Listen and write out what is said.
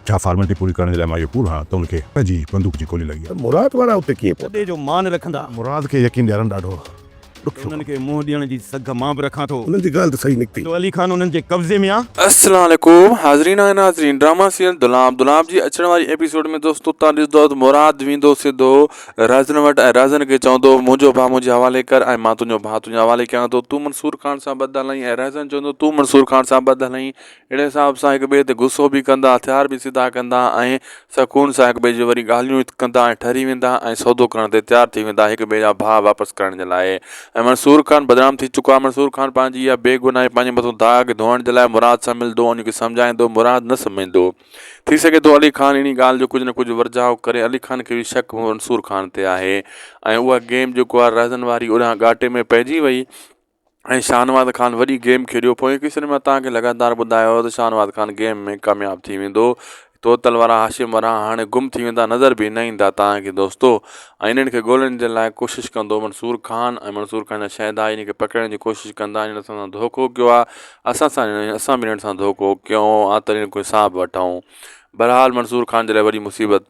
ڇا فارملٽي پوري ڪرڻ جي لاء مان اهو پور هڻان ته ان کي پ جي بندوق جي گولي لڳي ها. ته مراد وارا اتي ڪيئن پهتا؟ ڪڏي جو مان نه رکندا. مراد کي يقين ڏيارڻ ڏاڍو ڏکيو ڪم. انهن کي منهن ڏيڻ جي سگهه مان به رکان ٿو. انهن جي ڳالهه ته صحيح نڪتي. جو علي خان انهن جي قبضي ۾ آ. السلام عليڪم حاضرين ۽ ناظرين ڊراما سيريل دولاب دولاب جي اچڻ واري ايپيسوڊ ۾ دوستو تان ڏسندو ته مراد ويندو سڌو رازن وٽ ۽ رازن کي چوندو منهنجو ڀاء منهنجي حوالي ڪر ۽ مان تنهنجو ڀاء تنهنجي حوالي ڪيان ٿو تون منصور خان سان بد هلائين ۽ رازن چوندو تون منصور خان سان بد هلائين اهڙي حساب سان هڪ ٻئي تي غصو به ڪندا، هٿيار به سڌا ڪندا ۽ سڪون سان هڪ ٻئي جون وري ڳالهيون ڪندا ۽ ٺري ويندا ۽ سودو ڪرڻ تي تيار ٿي ويندا هڪ ٻئي جا ڀاء واپس ڪرڻ جي لاء ۽ منصور خان بدنام ٿي چڪو آهي منصور خان پنهنجي اها بي گناهي پنهنجي مٿو داغ ڌوئڻ جي لاء مراد سان ملدو ان کي سمجهائيندو مراد نه سمجهندو ٿي سگهي ٿو علي خان انهي ڳالهه جو ڪجهه نه ڪجهه ورجاء ڪري علي خان کي به شڪ منصور خان تي آهي ۽ اها گيم جيڪو آهي رهزن واري اڏانهن ڳاٽي ۾ پئجي وئي ۽ شاهنواز خان وڏي گيم کيڏيو پوئين قصن ۾ تان کي لگاتار ٻڌايو هو ته شاهنواز خان گيم ۾ ڪامياب ٿي ويندو توتل وارا هاشم ورهاڻ هاڻي گم ٿي ويندا نظر به نه ايندا تان کي دوستو ۽ انهن کي ڳولهڻ جي لاء ڪوشش ڪندو منصور خان ۽ منصور خان جا شهدا انهن کي پڪڙڻ جي ڪوشش ڪندا انهن اسان سان ڌوڪو ڪيو آ اسان سان اسان به انهن سان ڌوڪو ڪيو آ تڏهن ڪوئي ساهه به وٺون بهرحال منصور خان جي لاء وڏي مصيبت